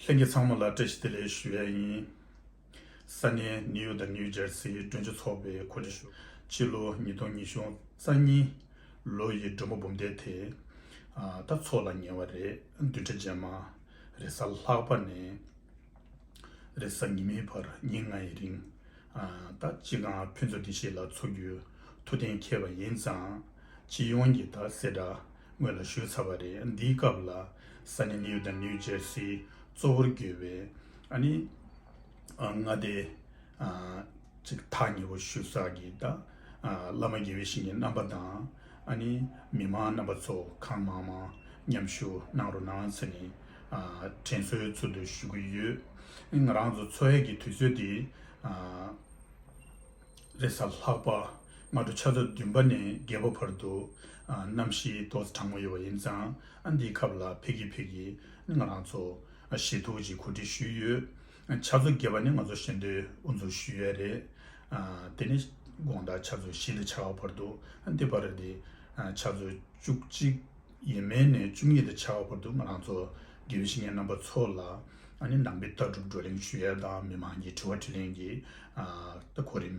ལྷན་རྒྱས་ཚང་མ་ལ་བཀྲ་ཤིས་བདེ་ལེགས་ཞུ་ཡ་ཡིན། ས་གནས་ནིའུ་ཡོག་དང་ནིའུ་ཇར་སིའི་སྤྲོན་ཆེན་ཚོགས་པའི་གོ་སྒྲིག་ཞུ། ཕྱི་ལོ་ཉིས་སྟོང་ཉི་ཤུ་རྩ་གཉིས། ལོ་ཡི་མགྲོན་པོ་འབུམ་སྡེ་དེ། ད་ཚོགས་ལ་ཉེ་བ་རེད་བདུན་ཕྲག་རྗེས་མ། རེས་གཟའ་ལྷག་པ་ནས། རེས་གཟའ་ཉི་མའི་བར་ཉིན་ལྔའི་རིང། ད་ཅི་གང་ཕུན་ཚོགས་འདི་ཞིག་ལ་འཚོ་རྒྱུའི་མཐུ་ལྡན་མཁས་པ་ཡིན་ཙང། སྤྱི་ཡོངས་ཀྱི་དག་སེལ་འདྲ་དངོས་ལ་ཞུ་ཚར་བ་རེད་འདིའི་སྐབས་ལ་ས་གནས་ནིའུ་དང་ནིའུ་ཇེར་སིའི་གཙོ་བོར་གྱུར་བའི་ཨ་ནི་མངའ་སྡེ་གཅིག་ཐག་ཉེ་བོ་ཞུ་ས་ཀྱི་ད་བླ་མ་དགེ་བའི་ཞིང་གི་རྣམ་པ་དང། ཨ་ནི་མི་མང་རྣམ་པ་ཚོ་གང་མང་མང་མཉམ་ཞུགས་གནང་རོགས་གནང་ཚེ་ནི་དྲན་གསོའི་ཚུལ་དུ་ཞུ་གི་ཡོད། ང་རང་ཚོ་འཚོ་བའི་གི་དུས་ཚོད་དེ་རེས་གཟའ་ལྷག་པ་སྔ་དྲོ་ཆ་ཚོད་བདུན་པ་ནས་བརྒྱད་པ་བར་དུ་གནམ་གཤིས་ཏོག་ཙེ་གྲང་མོ་ཡོད་པ་ཡིན་ཙང་འདིའི་ཁབ་ལ་ཕེབས་ཀི་ཕེབས་ཀི་ང་རང་ཚོ་ཞེ་ཐུགས་ཀྱིས་གོ་སྒྲིག་ཞུས་ཡོད། ཕྱག་མཛོད་རྒྱས་པ་ནི་ང་ཚོ་གཞན་དོན་དབུ་འཛུགས་ཞུས་ཡས་རེད། དེ་ནི་དགོངས་དག་ཕྱག་མཛོད་བཞི་ལས་ཆ་བ་བར་འདུག་འདི་བར་དེ་ཕྱག་མཛོད་བཅུ་གཅིག་ཡས་མས་ནས་བཅུ་གཉིས་ལས་ཆ་བ་བར་འདུག་ང་རང་ཚོ་དགེ་བའི་བཤེས་གཉེན་རྣམ་པ་ཚོ་ལ་ནི་ནང་པའི་ལྟ་གྲུབ་བགྲོ་གླེང་ཞུས་ཡས་དང་མི་མང་གི་དྲི་བ་དྲིས་ལན་གྱི་གོ་རིམ།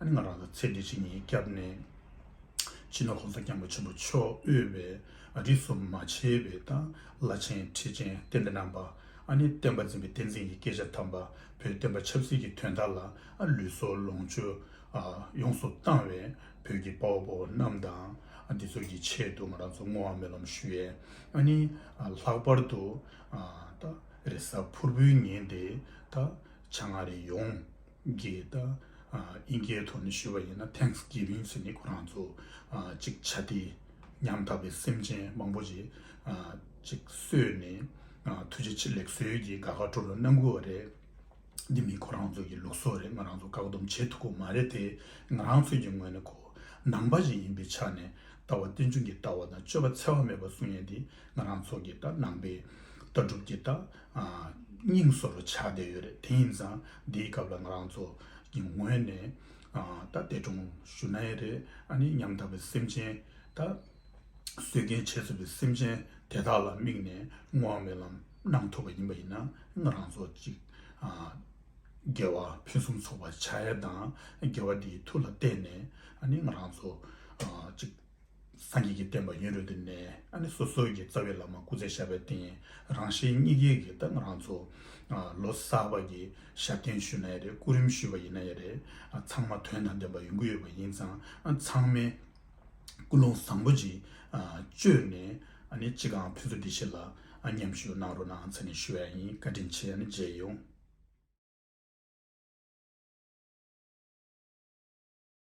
ཨ་ནི་ང་རང་ཚོ་ཚེ་འདི་ཕྱི་གཉིས་སྐྱབས་གནས་ཕྱི་ནང་གོང་ས་སྐྱབས་མགོན་ཆེན་པོ་མཆོག་དབུས་པའི་ཨ་རིག་སུ་མ་ཆེ་བའི་དང་བླ་ཆེན་ཁྲི་ཆེན་གཏན་བདེ་རྣམ་པ་ཨ་ནི་བསྟན་པ་འཛིན་པའི་བསྟན་འཛིན་གྱི་སྐད་ཆ་དམ་པ་བོད་བསྟན་པ་ཆབ་སྲིད་ཀྱི་དོན་དག་ལ་ལུས་སྲོག་ལོངས་སྤྱོད་ཡོངས་སུ་བཏང་བའི་བོད་ཀྱི་དཔའ་བོ་དཔའ་བོ་རྣམས་དང་འདི་ཚོ་གི་ཆེད་དུ་ང་རང་ཚོ་བསྔོ་བ་སྨོན་ལམ་ཞུ་ཡས་ཨ་ནི་ལྷག་པར་དུ་རེས་གཟའ་ཕུར་བུའི་ཉིན་དེ་ད་བྱ་ང་རེ་ཡོང། གི་ད་ཨིན་སྐད་ཐོག་ནས་ཞུས་པ་ཡིན་ན Thanks Giving ཟེར་ནས་ཁོ་རང་ཚོ་ཅིག་བྱ་སྟེ་ཉམ་ཐག་པའི་སེམས་ཅན་མང་པོ་ཞིག་ཅིག་གསོས་ནས་ཐུགས་རྗེ་ཆེ་ལེགས་གསོལ་གྱི་དགའ་ཁ་འཕྲོ་བའི་རྣམ་ཀུན་བ་རེད། འདི་མི་ཁོ་རང་ཚོ་གི་ལུགས་སྲོལ་རེད་ང་རང་ཚོ་བཀག་སྡོམ་བྱེད་ཐུབ་པོ་མ་རེད་དེ་ང་རང་ཚོས་ཀྱི་ངོས་ནས་གོ་ནང་པ་ཞིག་ཡིན་པའི་ཆ་ནས་ད་བ་ཏིལ་འབྱུང་གི་ལྟ་བ་དང་སྤྱོད་པ་འཚེ་བ་མེད་པ་བཟུང་ཡས་འདི་ང་རང་ཚོ་གི་ད་ནང་པའི་ལྟ་གྲུབ་ཀྱི་ད་སྙིང་སོར་ཆགས་བསྡད་ཡོད་རེད་དེ་ཡིན་ཙང་འདིའི་སྐབས་ལ་ང་རང་ཚོ་གི་ངོས་ནས་ད་འདས་གྲོངས་ཞུ་ན་ཡི་རེད་ཨ་ནི་ཉམ་ཐག་པའི་སེམས་ཅན་ད་གསོད་རྐྱེན་བྱས་ཚུལ་པའི་སེམས་ཅན་དེ་དག་ལ་དམིགས་ནས་བསྔོ་བ་སྨོན་ལམ་གནང་ཐུབ་པ་ཡིན་པ་ཡིན་ན་ང་རང་ཚོ་གཅིག་རྒྱལ་བ་ཕུན་སུམ་ཚོགས་པ་བྱ་ཡས་དང་རྒྱལ་བ་འདིའི་ཐུགས་ལ་གཏད་ནས་ཨ་ནི་ང་རང་ཚོ་གཅིག། སངས་རྒྱས་ཀྱི་བསྟན་པ་ཡུན་རིང་དུ་གནས། སོ་སོ་ཀྱི་རྩ་བའི་ལམ་མ་སྐུ་ཚེ་ཞབས་པད་བརྟན། རང་གཞན་གཉིས་ཀའི་གི་དང་རང་ཚོ། ལོ་གསར་བ་ཀྱི་ཞབས་བརྟན་ཞུས་ན་ཡ་རེད་སྐུ་རིམ་ཞུས་པ་ཡིན་ན་ཡ་རེད། ཚང་མ་དོན་དང་ལྡན་པ་ཡོང་གི་ཡོད་པ་ཡིན་ཙང་ཚང་མས་ཀུན་སློང་བཟང་པོ་ཅིག་བཅོས་ནས་ཅི་གང་ཕུན་སུ་འདི་ཕྱིར་ལ་མཉམ་ཞུགས་གནང་རོགས་གནང་ཚེ་ནས་ཞུ་བ་ཡིན་བཀའ་དྲིན་ཆེ་མཇལ་ཡོང།